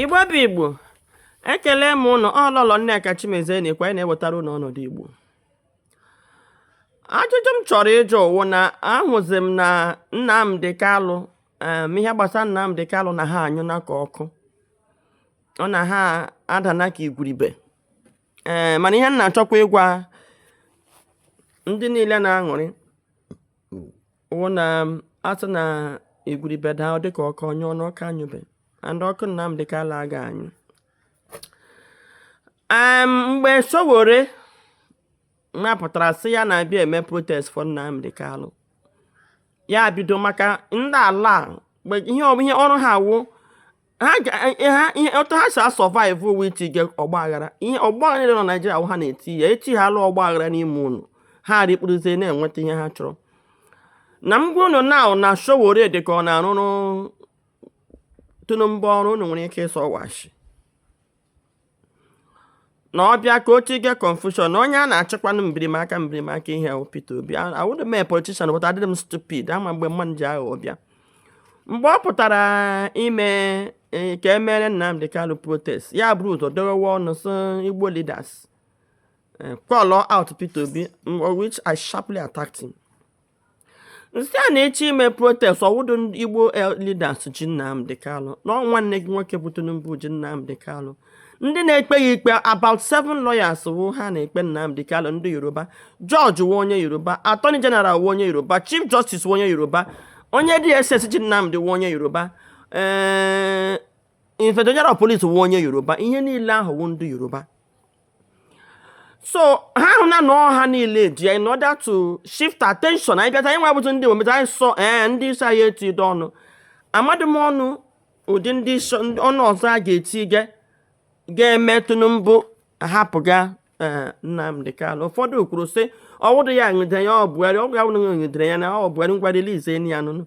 igbo bụ igbo ekele m ụnụ ọ lọlọ nneka chimezie na-ekwu onye na-ewetara ụnụ ọnọdụ igbo ajụjụ m chọrọ ịjụ wụ na ahụzi m na nnamdi kanu ihe gbasara nnamdi kanu na ha anyụna ka ọkụ ọ na ha adana ka igwuribe ee mana ihe m na-achọkwa ịgwa ndị niile na-aṅụrị wụ na a sị na igwuribe daa dịka ọkụ anyụọ na ọ ka anyụbe and ọkụ Nnamdi Kanu aga anyụ em mgbe Sowore na pụtara sị ya na-abịa ime protest for Nnamdi Kanu ya bido maka ndị ala mgbe ihe ọ- ihe ọrụ ha wụ otu ha si a-survive wụ itige ọgbaghara ihe ọgbaghara niile nọ naijiria wụ ha na-eti ya etihala ọgbaghara n'ime unu ha rikpuruzie na-enweta ihe ha chọrọ na m gwa unu na na sowore dị ka ọ na-arụrụ tinubu ọrụ unu nwere ike ịsị ọ wụ ashị na ọ bịa ka o tige confusion na onye a na-achịkwanụ mbirimaka mbirimaka ihe a wụ Peter Obi awụdị m politician but adịrị m stupid ama m mgbe mmadụ ji aghụghọ bịa mgbe ọ pụtara ime e, ka e mere Nnamdi Kanu protest ya bụrụ ụzọ dọwawa ọnụ sị Igbo leaders e, call out Peter Obi which I sharply attacked him m sị ya na ị chọọ ime protest ọ wụdụ Igbo leaders ji Nnamdi Kanu na nwanne gị nwoke bụ Tinubu ji Nnamdi Kanu ndị na-ekpe ya ikpe about seven lawyers wụ ha na-ekpe Nnamdi Kanu ndị Yoruba Judge wụ onye Yoruba Attorney General wụ onye Yoruba Chief Justice wụ onye Yoruba onye DSS ji Nnamdi wụ onye Yoruba ee eh, Inspector General of Police wụ onye Yoruba ihe niile ahụ wụ ndị Yoruba so ha ahụna na ọ ha niile ji ya in order to shift attention anyị bịata anyị nwa bụzi ndị ometa anyị sọ ee ndị isi anyị etidụ ọnụ amadị m ọnụ ụdịrị ọnụ ọzọ a ga-eti ga ga-eme Tinubu hapụ ga eh, Nnamdi Kanu ụfọdụ kwuru sị ọ wụdụ ya nwudere ya ọ Buhari ọgwụ ya wụrụ nwudere ya na ọ Buhari ngwa release ya nụnụ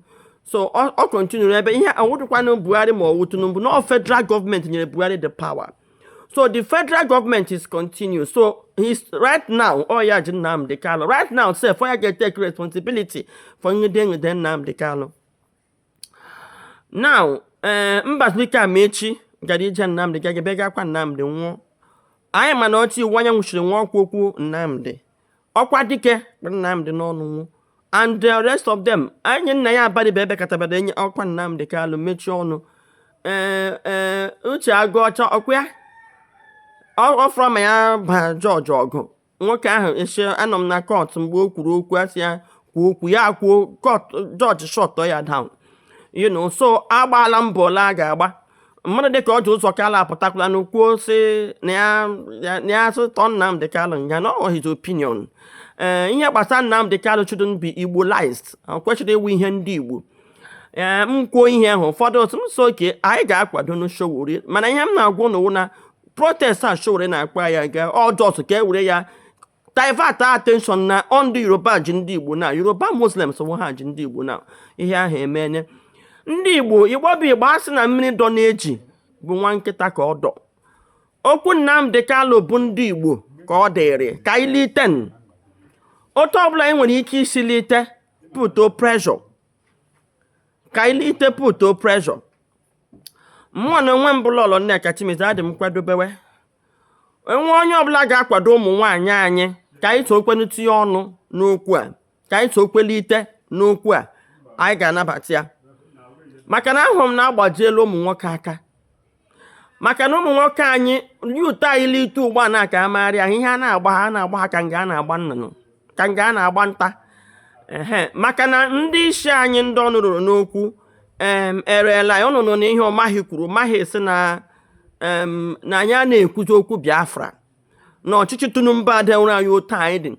so ọ continue-ru ebe ihe ọ wụdụkwanụ Buhari ma ọ wụ Tinubu na ọ federal government nyere Buhari the power so the federal government is continuous so he's right now ọ ya ji Nnamdi Kanu right now sef ọ ya ga-take responsibility for nwude nwude Nnamdi Kanu now ee eh, Mbazulike Amaechi gara ije Nnamdi gaga bịa gakwa Nnamdi nwụọ anyị manụ otu Iwuanyanwu shiri nwụọ ọ kwa okwu Nnamdi ọkwa dike bụ Nnamdi n'ọnụ nwụọ and the rest of them Enyinnaya Abaribe ebe katabada enye ọkwa Nnamdi Kanu mechie ọnụ ee ee Uche Aguocha ọkwa ya ọ- ọ fọrọ ma ya baa judge ọgụ nwoke ahụ esi anọ m na court mgbe o kwuru okwu a sị ya kwuo okwu ya kwuo court judge shut ya down you know so a gbaala mbọ ole a ga-agba mmadụ dịka Orji Ụzọ Kalụ apụtakwalanụ kwuo sị na ya asị tọọ Nnamdị Kalụ nga na ọ his opinion ee eh, ihe gbasara Nnamdị Kalụ shouldn't be Igbolized kwesịrị ịwụ ihe ndị Igbo ee eh, m kwuo ihe ahụ ụfọdụ otu m so okay anyị ga-akwadonụ Sowore mana ihe m na-agwa ụnụ wụ na protest a Sowore na-akpa ya ga ọjọọ ka e were ya divert attention na ọ ndị yoruba ji ndị igbo na yoruba muslims wụ ha ji ndị igbo na ihe ahụ emenye ndị igbo igbo bụ igbo asị na mmiri dọ n'eju bụ nwa nkịta ka ọ dọ okwu nnamdị kalụ bụ ndị igbo ka ọ dịrị ka anyị litenụ otu ọbụla anyị nwere ike isi lite putuo pressure ka anyị lite putuo pressure mụwa n'onwe m bụ lọlọ nneka chimezie adị m nkwadobe e nwee onye ọbụla ga-akwado ụmụ nwaanyị anyị ka anyị sokwenụ tinye ọnụ n'okwu a ka anyị sokwe lite n'okwu a anyị ga-anabata ya maka na ahụrụ m na agbajiela ụmụ nwoke aka maka na ụmụ nwoke anyị ndị youth anyị lite ugbu a na-aka amagharị ahụ ihe a na-agba ha a na-agba ha ka nga a na-agba nnụnụ ka nga a na-agba nta ehe maka na ndị isi anyị ndị ọnụ ruru n'okwu em ereela anyị ụnụ anụna ihe umahi kwuru umahi sị na em na anyị a na-ekwuzi okwu biafra na ọchịchị tinubu adịwụrụ anyị otu anyị dị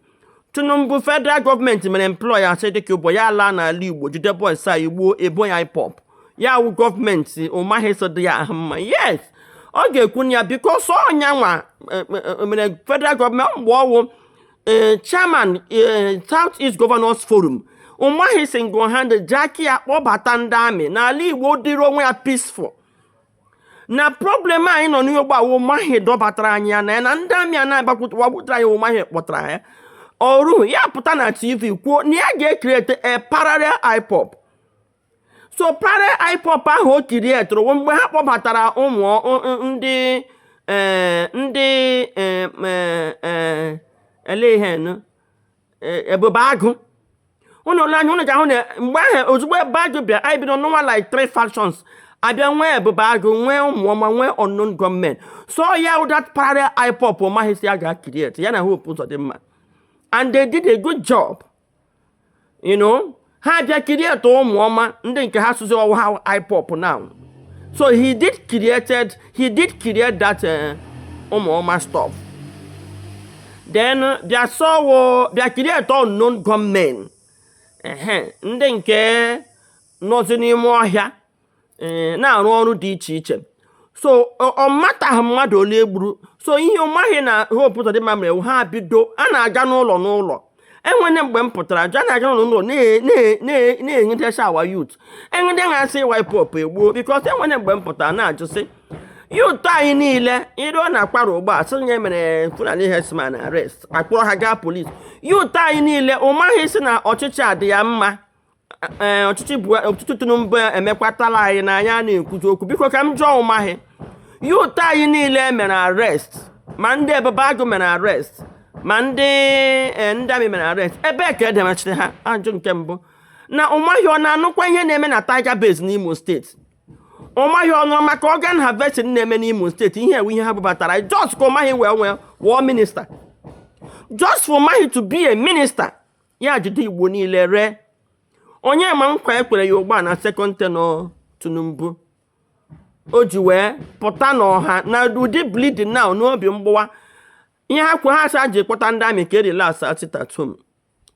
tinubu federal gọọmenti mere employ asari dokubo ya laa n'ala igbo jide boys anyị gbuo e bo ya ipob ya wụ gọọmenti umahi sị ọ dị ya ahụ mma yes ọ ga-ekwu na ya because ọ yanwa mere federal gọọmenti mgbe ọ wụ ee chairman ee South East Governors Forum Umahi single handed ji aka ya kpọbata ndị army n'ala Igbo dịrị onwe ya peaceful na problem anyị nọ n'Igbo wụ Umahi dọbatara anyị ya na ya na ndị army a na-agbakwutere anyị wụ Umahi kpọtara ya o ruru ya pụta na TV kwuo na ya ga-ecreate a parallel IPOB so parallel ipob ahụ o createre mgbe ha kpọbatara ụmụ ndị eh, ndị eh, eh, elehen ebube agụ ụnụ lee anya ụnụ ga-ahụ na mgbe ahụ ozugbo ebube agụ bịa anyị bido nwewa like three factions a bịa nwee ebube agụ nwee ụmụọma nwee unknown gunmen so ya wụ that parallel ipob umahi sị ya ga-ecreate ya na hope uzodimma and they did a good job you know ha abịa create ụmụọma ndị nke ha sịzị ọ wụ ha ipob now so he did created he did create that eh, ụmụọma uh, stuff then bịa as well bịa create unknown gunmen ndị nke nọzi n'ime ọhịa ee na-arụ ọrụ dị iche iche so ọ mataghị mmadụ ole egburu so ihe Umahi na Hope Uzodimma mere wụ ha bido a na-aga n'ụlọ n'ụlọ enwere mgbe m pụtara jụ a na-aga n'ụlọ n'ụlọ na- na- na- na-enwutecha our youth enwude ndị ha sị wụ IPOB egbuo because enwere mgbe m pụtara na-ajụsị youth anyị niile iru ọ na-akwara ụgbọ a sị nye mere fulani herdsmen arrest akpọrọ ha gaa police youth anyị niile Umahi sị na ọchịchị adị ya mma ee ọchịchị bụ ọtụtụ tinubu emekwatala anyị na anyị a na-ekwuzi okwu biko ka m jụọ Umahi youth anyị niile e mere arrest ma ndị Ebube Agụ mere arrest ma ndị e, ndị army mere arrest ebee ka edemachiri ha ajụjụ nke m bụ na Umahi ọ na-anụkwa ihe na-eme na tiger base n'imo steeti Umahi ọ nụrụ maka organ harvesting na-eme n'imo steeti ihe a wụ ihe ha bubatara just ka Umahi wee nwee wụrụ minister just for Umahi to be a minister ya jide igbo niile ree onye ma nkwa ekwere ya ugbu a na second tenure tinubu o ji wee pụta n'ọha na ụdị bleeding now n'obi mgbawa ihe ha kwuru ha sị ji kpọta ndị army ka e relax sit at home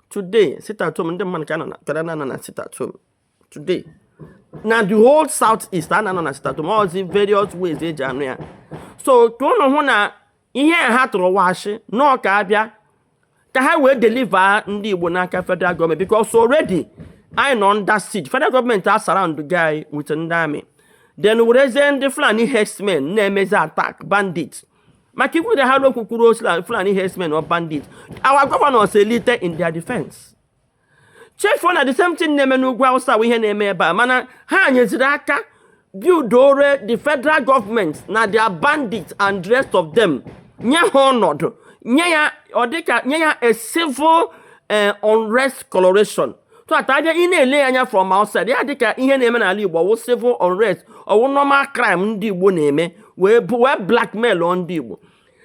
today sit at home ndị mmadụ ka nọ na sit at home today na the whole south east a na-anọ na sit at home all the various ways eji anọ ya so ka unu hụ na ihe a ha tụrụ wụ ashị na ọ ka abịa ka ha wee deliver ndị igbo n'aka federal gọọmenti because already anyị nọ under siege federal gọọmenti a surroundịgo anyị with ndị army then werezie ndị fulani herdsmen na-emezi attack bandit maka ikwu na ha n'okwu kwuru osila fulani herdsmen or bandit our governors elite in their defense chefuo na the same thing na-eme n'ugwu awụsa wụ ihe na-eme ebe a mana ha nyeziri aka buildoro the federal government na their bandits and the rest of them nye ha ọnọdụ nye ya ọ dịka nye ya a civil eh, unrest coloration so that abịa ị na-ele ya anya from outside ya dịka ihe na-eme n'ala igbo ọ wụ civil unrest ọ wụ normal crime ndị igbo na-eme wee bụ wee blackmailụọ ndị igbo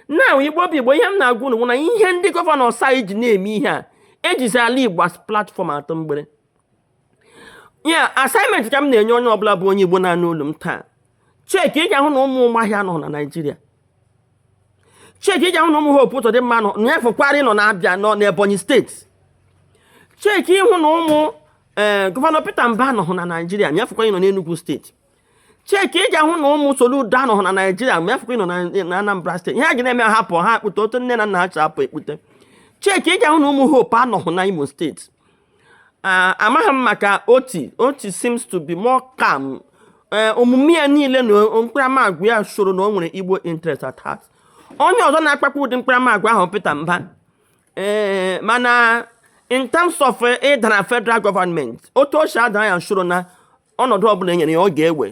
now igbo bụ igbo ihe m na-agwa unu bụ na ihe ndị gọvanọs a ji na-eme ihe a ejizi ala igbo as platform atụ mgbere ya assignment ka m na-enye onye ọbụla bụ onye igbo na-anụ olu m taa cheki ị ga-ahụ na ụmụ Umahi anọghị na naijiria cheki ị ga-ahụ na ụmụ Hope Uzodimma nọ nya fọkwara ịnọ n'Abia nọ n'ebonyi steeti cheki ịhụ na ụmụ ee eh, gọvanọ Peter Mbah anọghị na naijiria nya fọkwara ịnọ n'Enugu steeti cheki ị ga-ahụ na ụmụ Soludo anọghị na Naịjirịa nya fọkwa ịnọ na Anambra steeti ihe a ga na-eme hapụ ha akpụta otu nne na nna ha chapụ ekpute cheki ị ga-ahụ na ụmụ Hope anọghị na Imo steeti amaghị m maka Otti Otti seems to be more calm e, omume ya niile na mkparamagwa ya showrụ na o nwere Igbo interest at heart onye ọzọ na-akpakwa ụdị mkparamagwa ahụ Peter Mbah ee mana in terms of ịdara eh, federal gọọmenti otu o si adara ya showrụ na ọnọdụ ọbụla enyere ya ọ ga-ewe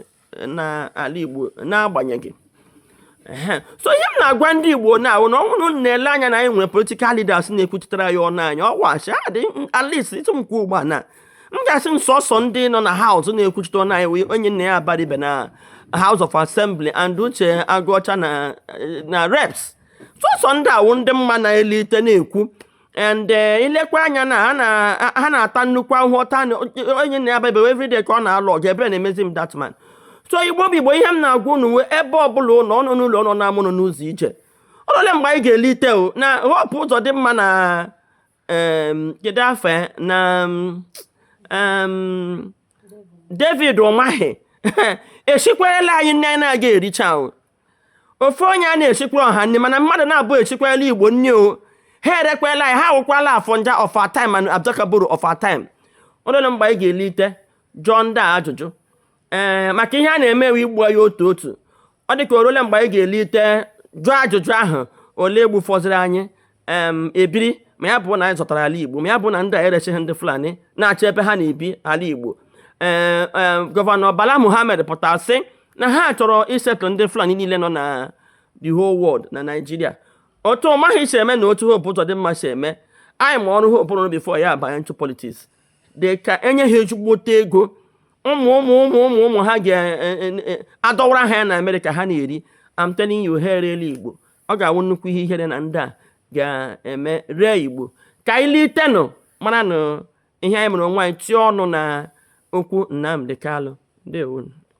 n'ala Igbo n'agbanyeghị so ihe m na-agwa ndị Igbo na-awụ na ọ wụrụ na-ele anya na anyị nwere political leaders na-ekwuchitere anyị ọnụ anyị ọ wụ asị adị at least ịtụ m kwuo ugbu a na m ga-asị m sọsọ ndị nọ na house na-ekwuchite ọnụ anyị Enyinnaya Abaribe na House of Assembly and Uche Agụọcha na reps sọsọ ndị a wụ ndị m ma na-elite na-ekwu and eh, i lekwa anya na ha na-ata nnukwu ahụhụ ọta Enyinnaya Abaribe everyday ka ọ na-alụ ọgụ ebere na-emezi m that man so Igbo bụ Igbo ihe m na-agwa unu wụ ebe ọbụla unu nọ unu nọ n'ụlọ unu nọ n'ama unu nọ n'ụzọ ije o rule mgbe anyị ga-elite o na Hope Uzodimma na kedu afọ eh, na David Umahi esikwarela anyị nri anyị na-agaghị ericha ahụ ofu onye anaghị esikwara ọha nri mana mmadụ naabụ esikwala Igbo nri o ha erekwala anyị ha awụkwala Afonja of our time and Adaka Boro of our time o rule mgbe anyị ga-elite jụọ ndị a ajụjụ ee maka ihe a na-emewe igbu anyị otu otu ọ dị ka o rule mgbe anyị ga-elite jụọ ajụjụ ahụ ole e gbufọziri anyị ebiri ma ya bụ na anyị zọtara ala Igbo ma ya bụ na ndị a erechighị ndị Fulani na-achọ ebe ha na-ebi ala Igbo ee gọvanọ Bala Muhammed pụtara sị na ha chọrọ i-settle ndị Fulani niile nọ na the whole world na Nigeria otu Umahi si eme na otu Hope Uzodimma si eme anyị ma ọrụ Hope rụrụ before ya abanye into politics dị ka e nye ha ezigbote ego ụmụ ụmụ ụmụ ụmụ ụmụ ha ga-adọwara e, e, e, ha ya na Amerịka ha na-eri I'm telling you ha erela Igbo ọ ga-awụ nnukwu ihe ihere na ndị a ga-eme ree Igbo ka anyị litenụ maranụ ihe anyị mere onwe anyị tie ọnụ na okwu Nnamdi Kanu ndewonụ